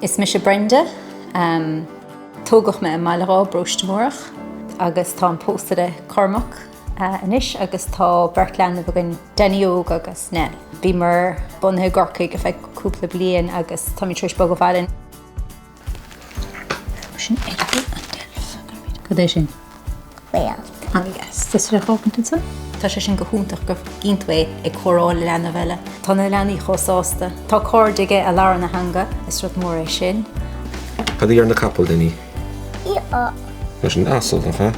Is mise Brenda. Tógadh mé i mBaile Dháith i bParóiste Múrach agus táim pósta le Cormac anois agus tá beirt leanbh againn, Danny Óg agus Nell. Bhíomar bunaithe i gCorcaigh feadh cúpla bliain agus táimid tar éis bogadh abhaile. Sin oiread an deilf a bhí air. Cad é sin? Whale. An ea? Is rith dhó iontu san. Tá sé sin go hiontach go gcíonn tú é ag comhrá le leanbh eile. Tá na leanaí chomh sásta. Tá cairde aige a labhrann a theanga. Is rud mór é sin. Cad a deireann an capall, Danny? Ioh. Tá sé sin asal, nach ea?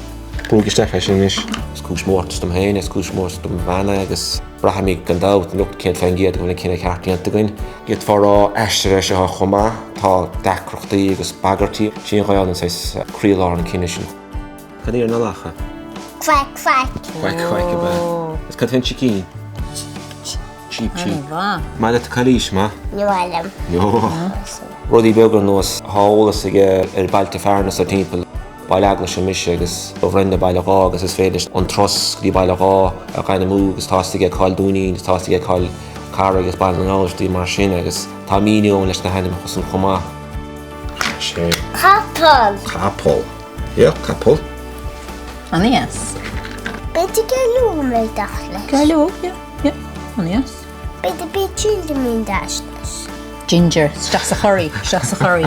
Brúigh isteach é sin anois. Is cúis mórtais dom féin, is cúis mórtais dom bhean é agus. Braithimid gan dabht lucht céad fén gcéad go bhfuil an cinneadh ceart déanta againn. D'fhéadfá a rá aistear é seo chomh maith, tá deacrachtaí agus bagairtí. Sí an Ghaelainn saghas croílár an cinneadh sin. Cad a deireann an lacha? Quack quack. Quack quack ab ea. Is cad fén sicín? Cheep cheep. Maith leat cailís, maith? Ní maith liom. Rudaí beaga ar nós, tá eolas aige ar bhailte fearainn sa timpeall. Baile Eaglaise mise agus Brenda Baile Dháith agus is féidir leis an turas go dtí Baile Dháith a dhéanamh agus tá a fhios aige cá bhfuil Dúinín agus tá a fhios aige cá bhfuil Carraig agus Baile na nGall, rudaí mar sin agus tá míniú ann leis na hainmneacha san chomh maith. sé Capall. capall. Yeah, capall. An-dheas. Beidir go lúna dale. Gailú? Yeah, yeah. An-dheas. Beidh do bith chill de mí an d'fhaisnéis. Ginger, isteach sa churry, isteach sa churry.